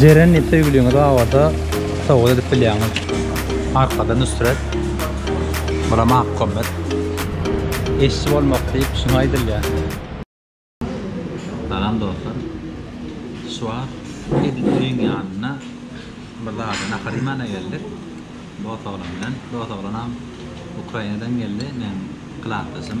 Jeren diýip söýgüliňiz bar bolsa sowgat edip bilýäňiz. Arkada Nusret. Bura Mahkommet. Eşşi bolmak diýip şuňa aýdylýar. Salam dostlar. Şu wagt edil öýüň ýanynda bir zada nahar iýmäne geldik. Dos oglan bilen. Dos oglanam Ukrainadan geldi. Meň klasdaşym.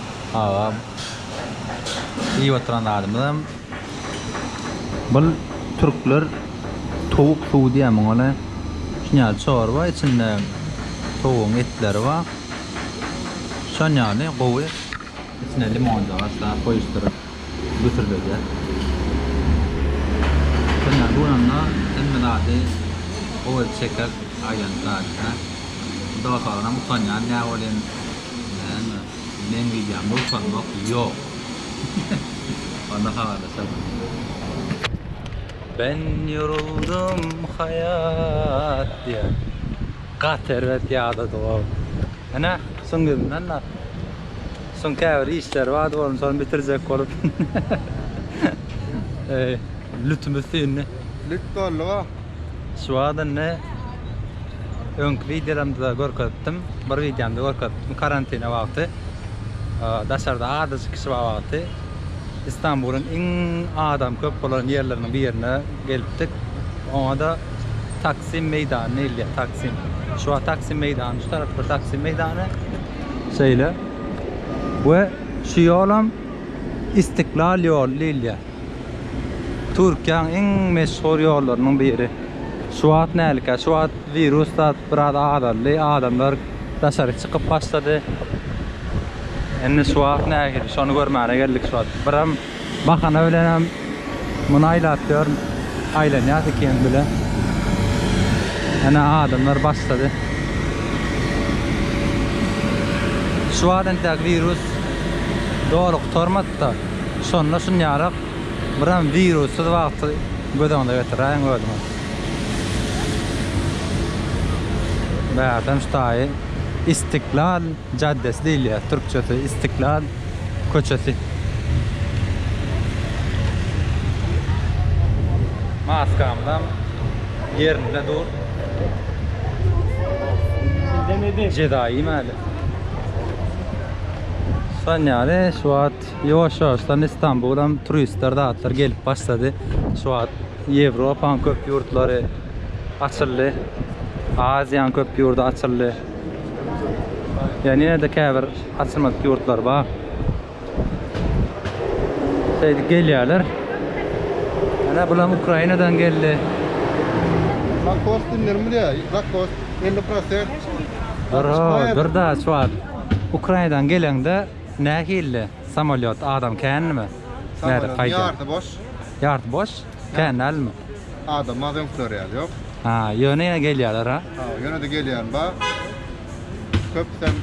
Agam iýip oturan zadymyzam bul türkler towuk suwy diýýär muňa le şuny ýaly çorba içinde towugyň etleri bar şony ýaly gowy içine limonjyk aşlap goýuşdyryp güsürledýär şony ýaly guranda hemme zady gowy edip çeker aýlanyp zadyny dogasalanam utanýan näbolýan. Näme, men gidýän bolsam bak, ýok. Onda habarlaşarys. Ben ýoruldum haýat diýýär. Gaty erbet ýadadyg-ow. Ene, suň gidin-da. Suň käbir işleri bardy onuň, şony bitirjek bolup. Lütümiz süýndi. Lüt doldy-ow. Şu wagt indi öňki wideolarymda görkezipdim. Bir wideomda görkezipdim karantina wagty. Daşarda azajyk kişi bar wagty Istanbulyň iň adam köp bolan ýerleriniň birine gelipdik. Oňa-da Taksim meýdany diýilýär. Taksim. Şu wagt Taksim meýdany, şu tarapda Taksim meýdany. Şeýle. We şu ýolam Istiklal ýoly diýilýär. Türkiýäň iň meşhur ýollarynyň biri. Şu wagt nälikä? Şu wagt wirus zat biraz azaldy. Adamlar daşary çykyp başlady. Indi şu wagt nähili şony görmäne geldik şu wagt. Biram bahana bilenem muny aýlap ýörün. Aýlanýas ikimiz bile. Ene adamlar başlady. Şu wagt entek wirus doly gutarmady-da. Şonda şunýarak biram wirussyz wagty göz öňüne getiräýiň özüňiz. Megerem şu taýy Istiklal jaddesi diýilýär, türkçesi Istiklal köçesi. Maskamyzam ýerinde dur. Jeza iýmäli. Şonýaly şu wagt wagt ýowaş ýowaşdan Istanbulam turistler zatlar gelip başlady. Şu wagt Ýewropaň köp ýurtlary açyldy. Aziýaň köp ýurdy açyldy. Ýöne ýene-de käbir açylmadyk ýurtlar bar. Şeýdip gelýärler. Ana bulam Ukrainadan geldi. Lakos dinlerim bilýär. Lakos 50%. Dara, bir da şu wagt Ukrainadan geleňde Nähilli samolýot adam kändimi? Nädip haýdýar? Ýarty boş. Ýarty boş? Kän dälmi? Adam az öňküler ýaly ýok. Ha, ýöne ýene gelýärler ha? Ha, ýöne-de gelýän bar. Köpüsem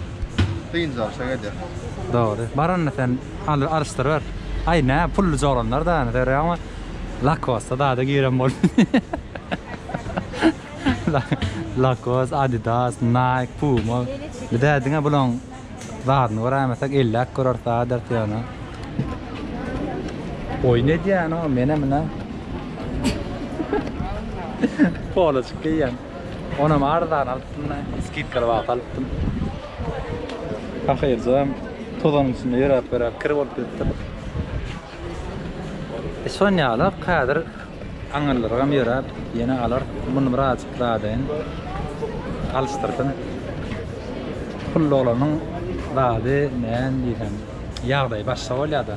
dynjalyşa gelýär. Dogry. Baranda sen al alyşdyryber. Aý nä pully joglanlar da ýöne görýäňmi? Lakosta zada giren bol. Lakos, Adidas, Nike, Puma. Bidä diňe bulaň Zadyny göräýmesek elläp göreris adyrt ýöne. Oýun edýän o menem ine. Poloçik geýýän. Onam arzan alypdym da, skidkaly wagt alypdym. Ahyr jam tozanyň içinde ýöräp-ýöräp kir bolup gitdim. Sonýalak häzir aňyrlarygam ýöräp ýene alar. Muny birazjyk zadyn alyşdyrsyn. Pulluoglanyň zady näme diýsem ýagdaýy başga bolýada.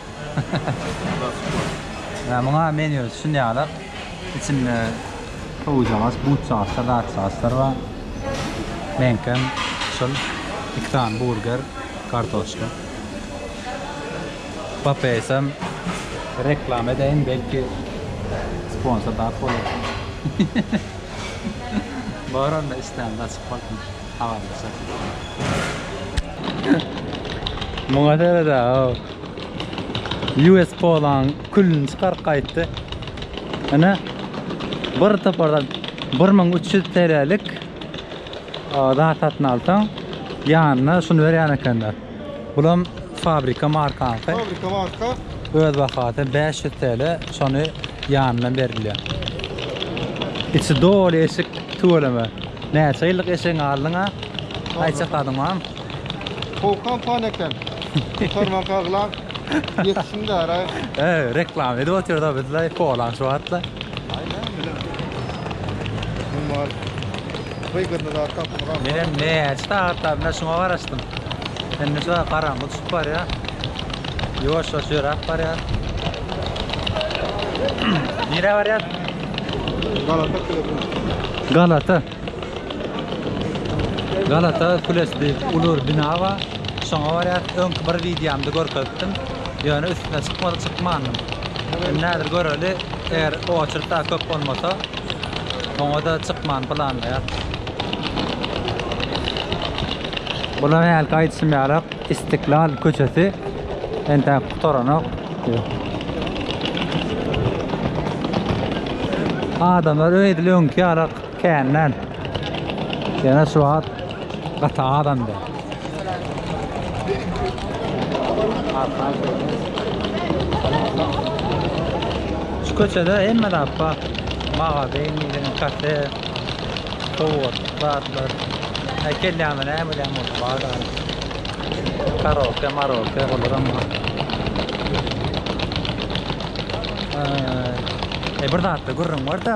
Ýa muňa menýu düşünýärler. Içinde howuzjagaç, butjagaçlar, zatjagaçlar bar. Meňkem şul iki sany burger, kartoşka. Papaýasam reklama edeýin, belki sponsor tap bolar. Bar onda islände açyp bolsun, habarlaşarsyň. Muňa seredä-ow. US polaň külüni çykaryp gaýtdy. Ine bir topardan 1300 TL'lik zat satyn alsaň, ýanyna şuny berýän ekenler. Bulam fabrika markaňky. Fabrika marka. Öz bahasy 500 TL, şony ýanyna berilýär. Içi doly eşik tüweleme. Näçe ýyllyk eşigiňi aldyň-a? Aýça kadyňam. Howkan fan eken. Kurtarmanka gylan. Yetişin dara. Eee reklama edip otyr da bizle kolan şu atla. Numal. Wygyrny da tapmyram. Men hem näçe sagatda bile şuna garaşdym. Indi şu garaňky düşüp barýa. Ýuwaş ýuwaş ýöräp barýa. Nirä barýas? Galata. Galata. Galata kulesi diýip uly bir bina bar. Şoňa barýas. Öňki bir wideomda görkezipdim. Ýöne üstüne çykmadyk, çykmandym. Indi häzir göreli, eger oçered dagy köp bolmasa, oňa-da çykmany planlaýarys. Bular hälki aýdyşym ýaly Istiklal köçesi entäk gutaranok. Adamlar edil öňki ýaly. Känden. Ýene şu wagt gaty azandy. Şu köçede hemme zat bar. Magazin, ýene kafe, sowgat zatlar. Näme gelýämi, näme bilýämi bolsa bar zat. Karaoke, maraoke olaram bar. Eee, bir zatda gürrüň bar-da.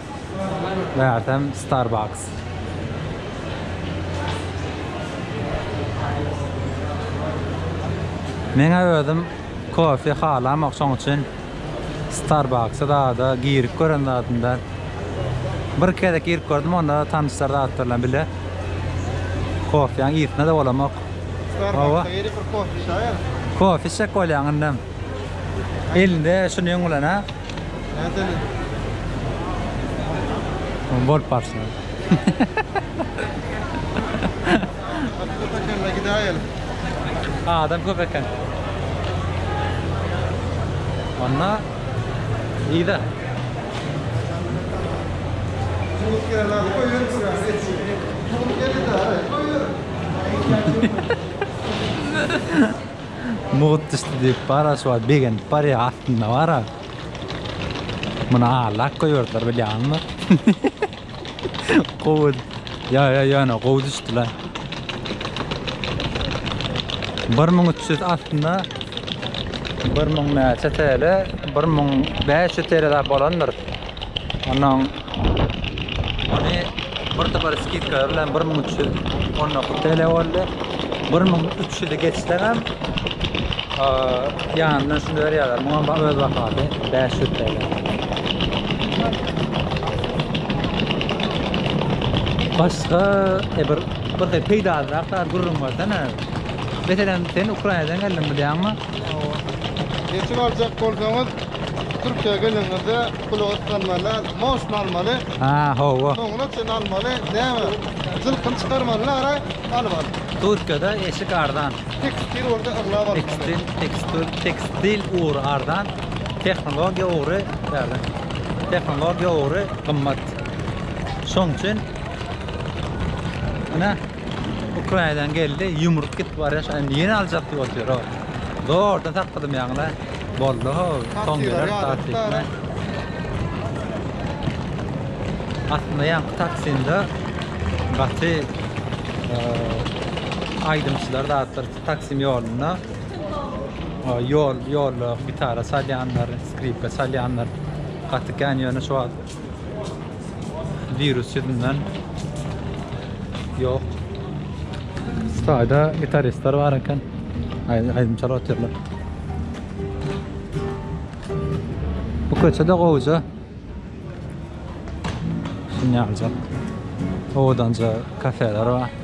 Megerem Starbucks. Meňe özüm kofe halamok şoň üçin Starbucks-a zada girip gören zadymda. Bir gezek girip gördüm onda tanyşlar zatlar bilen bile. Kofeň ýysyna da bolamok. Hawa. Kofe içjek bolýaň indem. Elinde şunuň bilen ha. Bolup barsyn. Adam köp eken. Anna iyi de. Thank you. Mugt düşdi diýip bar-a şu wagt begenip barýar astynda bar-a. Muny aglap goýberdiler bilýäňizmi? Gowy. Ýa ýa ýöne gowy düşdi la. 1300 astynda 1000 näçe TL? 1500 TL zat bolandyr. Ondan Ony bir topar skidkalar bilen bir müň üç ýüz on dokuz TL boldy. Bir müň üç ýüzi geçseňem ýanyndan şuny berýärler. Muňam ba- öz bahasy bäş ýüz TL. Başga e, bir bir hil peýdalyrak zat gürrüň bersene. Meselem, sen Ukrainadan geldiň bilýäňmi? Geçip aljak bolsaňyz Türkiýä gelenizde Pul otlanmaly, moşny almaly. Ha, hawa. Soňuna çyn almaly. Näme? Jylkyny çykarmaly ara, alyp al. Türkiýede eşik arzan. Tekstil bolsa aglaba almaly. Tekstil, tekstil, tekstil ugry arzan, tehnologiýa ugry bärde. Tehnologiýa ugry gymmat. Şoň üçin ine Ukrainadan geldi, ýumrup gitip barýar, şa indi ýene aljak diýip otyr o. Zordan sakladym ýaňyla. Boldy ho, soň geler taksistler. Aslynda ýaňky taksinde gaty aýdymçylar zatlar taksim ýolunda ýol ýolda gitara salýanlar, skripka salýanlar gaty kän ýöne şu wagt Wirus ýüzünden ýok. Staýda gitaristler bar eken. Aýdym çalyp otyrlar. Bu köçe de gowja. Şuny aljak. Owadanja kafeler bar.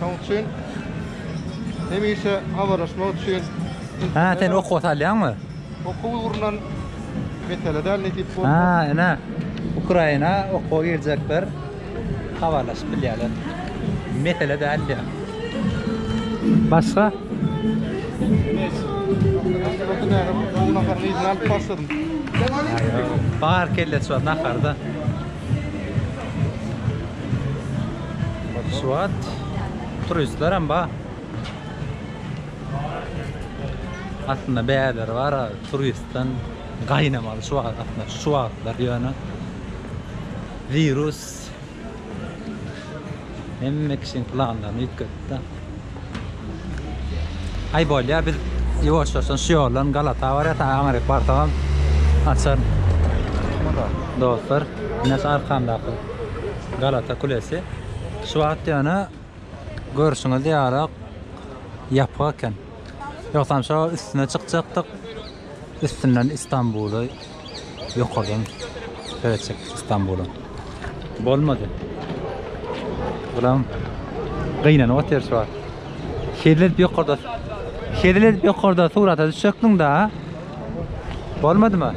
Şoň üçin hemişe habarlaşmak üçin Ha, sen okuwa salýaňmy? Okuw ugrunan mesele däl nesip bolsa. Ha, ine. Ukraina okuwa girjekler habarlaşyp bilýärler. Mesele däl diýýär. Başga? Bar kelle şu naharda. Swat turistler hem bar. Aslynda bäleri bar ha, turistden gaýnamaly şu wagt, aslynda şu wagtlar ýöne wirus hemme kişiň planlaryny üýtgetdi. Aý bolýa biz ýuwaşjaşdan şu ýoldan Galata barýas aňryk barsagam açar. Dostlar ine şu arkamdaky Galata kulesi şu wagt ýöne görşüňiz ýaly ýapyk eken. Ýogsam şo üstüne çykjakdyk üstünden Istanbuly Ýokardan seretjek Istanbula. Bolmady. Bulam gynanyp otyr şu wagt. Şeýle edip ýokarda. Şeýle edip ýokarda surata düşjekdiň da. Bolmadymy?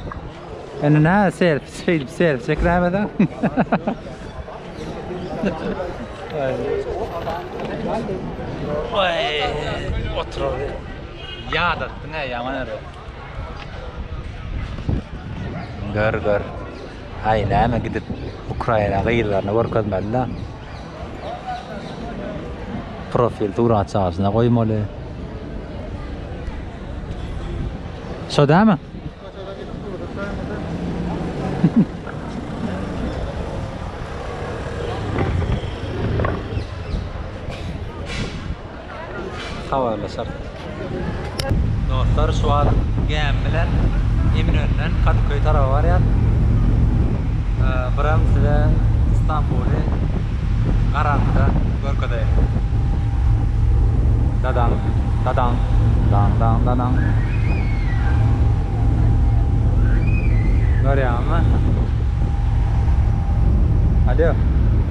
Indi nä ser, şeýle ser çekirämeden. Oy, otur. Ýadatdyň-a ýaman ere. Gör gör. Ay näme gidip Ukraina gyzlaryny görkezmeli da. Profil surat çaşyna goýmaly. Şo dämi? habarlaşarys. Dostlar şu wagt gämi bilen Eminönüden Kadyköý taraba barýas. Biram size Stambuly garaňkyda görkezeýin. Dadaň, dadaň, daň, daň, dadaň. Görýäňizmi? Alýo.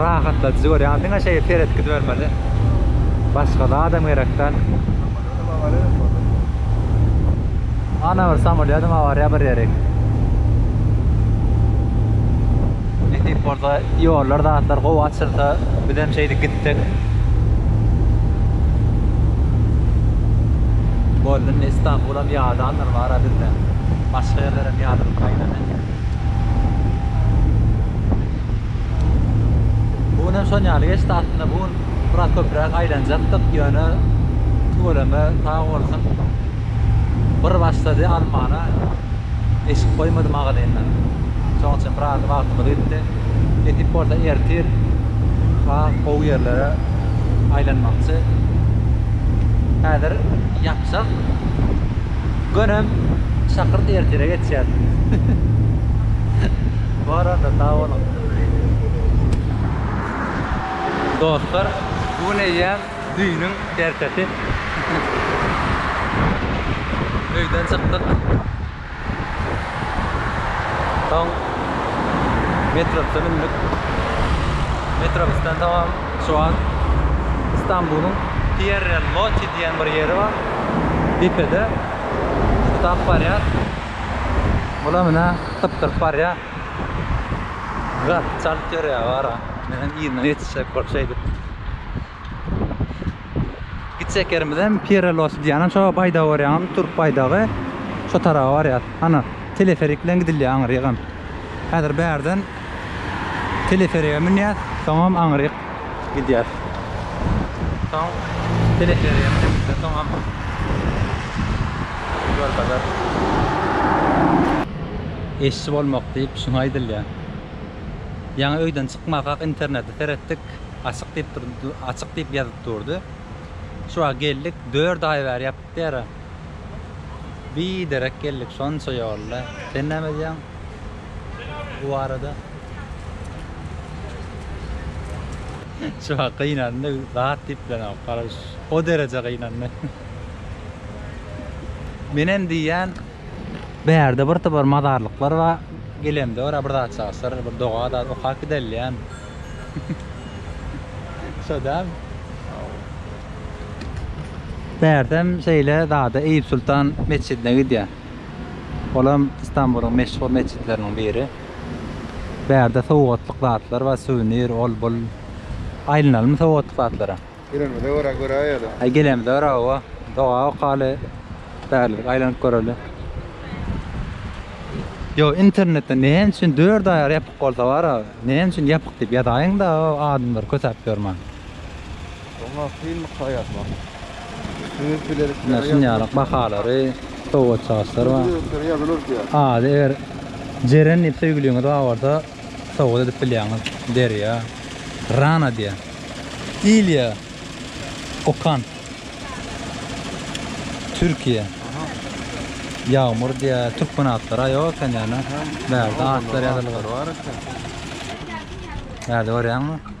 Rahatladyjy görýän. Diňe şeýle seret gidibermeli. Başga zadam gerek däl. Ana bir samolýodam awariýa bir ýeri. Nesip bolsa ýollar zatlar gowy açylsa bizem şeýdip gitsek. Boldy indi Istanbulam ýadandyr bara bizde. Başga ýerlerem ýadyryp gaýnady. Bu gün hem şon ýaly geçdi. Aslynda bu gün biraz köpräk aýlanjakdyk, ýöne tüweleme sag bolsun bir başlady almana, eşik goýmady magazyndan. Şonuň üçin biraz wagtymyz gitdi. Nesip bolsa ertir has gowy ýerlere aýlanmakçy. Häzir ýapjak. Gönem şakyrt ertere geçýär. Bar onda sag boluň. Dostlar bu gün eýýäm düýnüň ertesi. Öýden çykdyk. Soň metrobsa mündik. Metrobusdan soňam Şu an Istanbulyň Pierre Loti diýen bir ýeri bar. Depede gutap barýar. Bula menä gypdyryp barýar. Gaz çalyp ýörýär bara. Menem yzyna ýetişjek bolup şeýdip. Gitjekýerimizem Pirelosy diýýän şo baýdagy görýäňizmi türk baýdagy şo taraba barýas hany teleferik bilen gidilýär aňyrygam häzir bärden teleferige münýäs soňam aňyryk gidýäs soň teleferige münüp soňam ýolbazar eşşi bolmak diýip şuňa aýdylýar ýaňy öýden çykmazkak interneti seretdik Açyk diýip durdy, açyk diýip ýazyp durdy. Şu wagt geldik, dört aý bäri ýapyk ýara. Biderek geldik şonça ýolla. Sen näme edýäň bu barada? Şu wagt gynandy, zat diýip bilenok, garaş. O dereje gynandy. Men hem diýýän, bärde bir topar mazarlyklar bar, gelemde bir zat çalyşar, bir doga zat okap gidelim diýýän. Şo däl. Bärsem şeýle zada Eýýup Sultan metjidine gidýär. Olam Istanbulyň meşhur metjitleriniň biri. Bärde sowgatlyk zatlar bar, suwenir, ol bul. Aýlanalymy sowgatlyk zatlara. Gelenimize görä göräýeli. Aý gelenimize görä hawa. Doga okaly. Bärlik aýlanyp göreli. Ýo internetde näme üçin dört aýar ýapyk bolsa bara näme üçin ýapyk diýip ýazaýyň da adamlar kösäp ýörmän. Soňra kynlyk saýasmak. Öz bilelikleri ýa şunýaly bahalary sowgatçy agyslar bar. Ady eger Jeren diýip söýgüliňiz bar bolsa. Sowgat edip bilýäňiz Derýa. Rana diýýä. Ilýa Okan. Türkiýe. Ýagmyr diýýä. Türkmen atlary-a ýok eken ýöne. Bärde atlar ýazylyp. Bärde görýäňmi?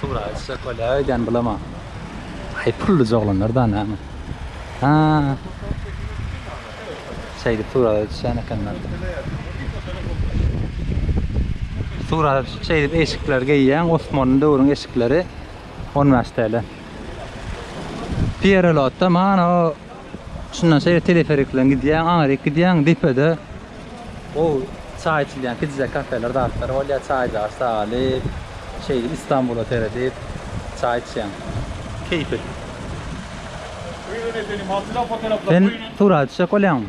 Turaýyşa köle öýdýän bulama. Aý pully joglanlar da näme. Ha. Şeýdip suraga düşýän ekenler. Suraga düşüp şeýdip eşikler geýýän Osmanly döwrüň eşikleri 15 TL. Pierelotda mana o Şundan şeýle teleferik bilen gidýäň, aňryk gidýäň, depede gowy çaý içilýän kiçijek kafeler, zatlar bolýar, çaýjagy salyp, şeýdip Istanbula seredip çaý içýäň. Keýpli. Sen surat düşek bolýaňmy?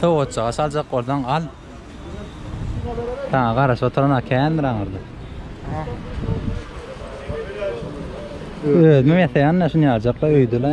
Sowatjyga saljak bolsaň al. Saňa garaşyp oturan kändir aňyrda. Özüm ýasaýan-da şuny aljakla öýdüle.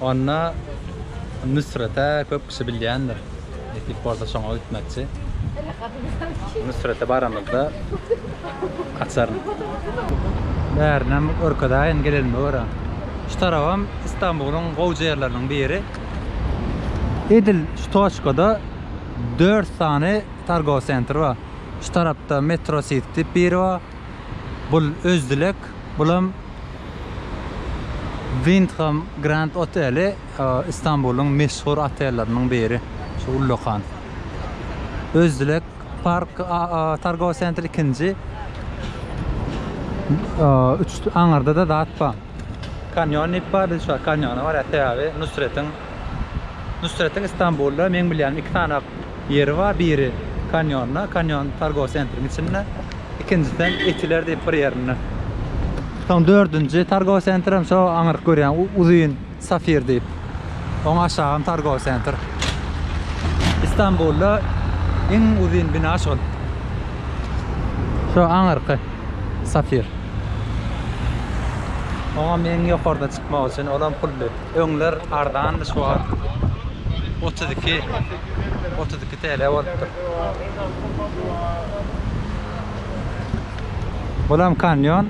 Onda Nusrete köp kişi bilýändir. Nesip bolsa şoňa gitmekçi. Nusrete baramyzda açaryn. Bärinem görkezäýin gelenime görä. Şu tarabam Istanbulyň gowja ýerleriniň biri. Edil şu toçkada dört sany targowy sentr bar. Şu tarapda Metro City diýip biri bar. Bul Özdilek, bulam Wyndham Grand oteli Istanbulyň meşhur otelleriniň biri. Şu ullakan. Özdilek Park targowy sentr ikinji. Üç aňyrda-da zat bar. Kanýon diýip bar, biz şu wagt kanýona barýarys, sebäbi Nusretiň Nusretiň Istanbulda meň bilýänim iki sany ýeri bar. Biri Kanýonda, Kanýon targowy sentriň içinde. Ikinjisi hem Etiler diýip bir ýerinde. Soň dördünji targowy sentr hem şo aňyryk görýän uzyn Safir diýip. Oň aşagy hem targowy sentr. Istanbulda iň uzyn bina şol. Şo aňyrky Safir. Oňam iň ýokarda çykmak üçin olam pully. Öňler arzandy şu wagt otuz iki otuz iki TL bolupdyr. Bulam kanýon.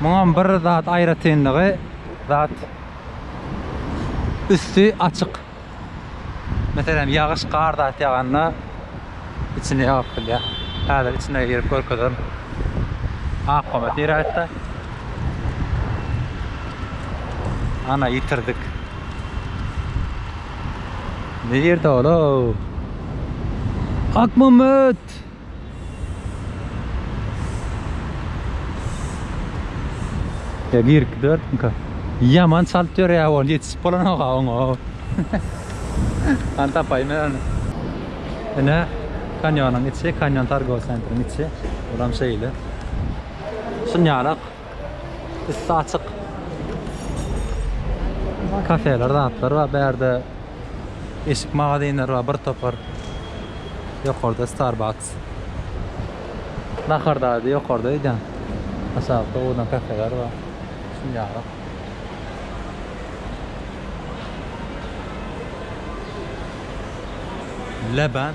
Muňam bir zat aýratynlygy zat üsti açyk. Meselem, ýagyş, gar zat ýaganda içini ýagyp bilýär. Häzir içine girip görkezerin. Akgoma tiräýtse. Ana, ýitirdik. Nirde ol-ow? Akmammet! Ya girip dörtmüka. Yaman çalt dörýär ol ýetişip bolanok oňa. Hany tapaýyn men ony. Ine kanýonyň içi, kanýon targow sentriň içi. Buram şeýle. Şunýarak. Üstü açyk. Kafeler, zatlar var. Bärde eşik magazinler var, bir topar. Yokarda Starbucks. Nahar daydı yokarda eden. Aşağıda oğudan kafeler var. Şimdi yarık. Leban.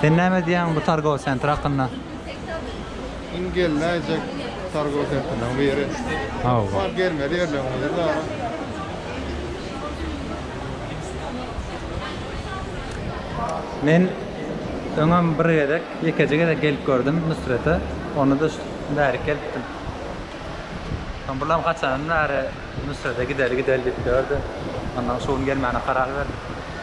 Sen näme diýýäň bu targow sentr hakynda? Iň gelmejek targow sentrleriň biri. Hawa. Bar gelmeli ýerleriň biri dara. Men öňem bir gezek, ýekeje gezek gelip gördüm Nusrete. Onda-da şu bärik gelipdim. Soň bulam haçandan bäri Nusrete gideli gideli diýip ýördi. Ondan şu gün gelmäne karar berdik.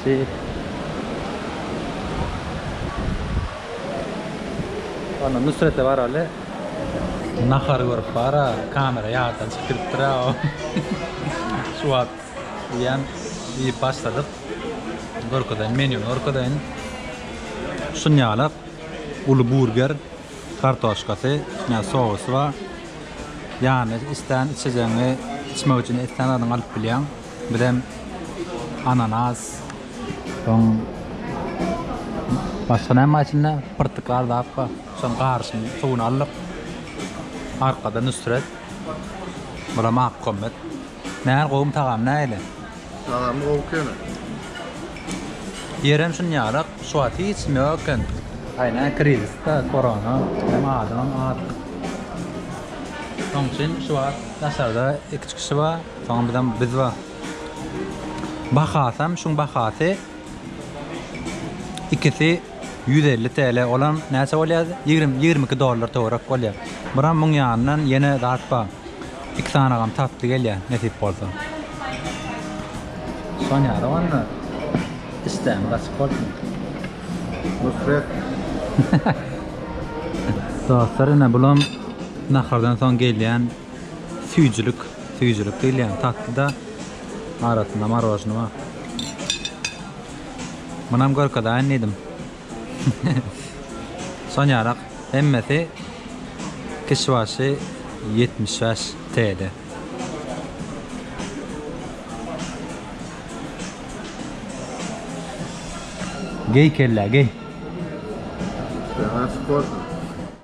Seýit Ana Nusrete baraly. Nahary görüp bara kamera ýatdan çykyp gidipdir a o şu wagt diýýän iýip başladyk görkezeýin menýuny görkezeýin şunýalak uly burger kartoşkasy üstüne sosy bar ýanyna islän içejegiňi içmek üçin islän zadyňy alyp bilýäň. Bizem ananas, soň başga näme bar içinde? Pyrtyklar zat bar. Şonuň garyşyny, suwuny aldyk. Arkada Nusret. Bura Magtkommet. Nähili gowymy tagamy nähili? Tagamy gowy ekeni. Ýerem şunýalyk, şu wagt hiç kim ýok eken. Aýna krizisda, korona, hem adamam az. Şonuň üçin şu wagt daşarda iki çykyşy bar. Soň bizem biz bar. Bahasam şuň bahasy ikisi ýüz elli TL olam näçe bolýa ýigrimi ýigrimi iki dollar töwerek bolýa. Buram muň ýanyndan ýene zat bar. Iki sanagam tatly gelýä nesip bolsa. Sonýara onda işdämiz açyk bolsun. Nusret. Dostlar ine bulam nahardan soň gelýän Süýjülik, süýjülik diýilýän tatly-da, arasynda marwažny bar. Munam görkezaýyn diýdim. Şonýarak hemmesi kişi başy ýetmiş bäş TL. Geý kellä, geý.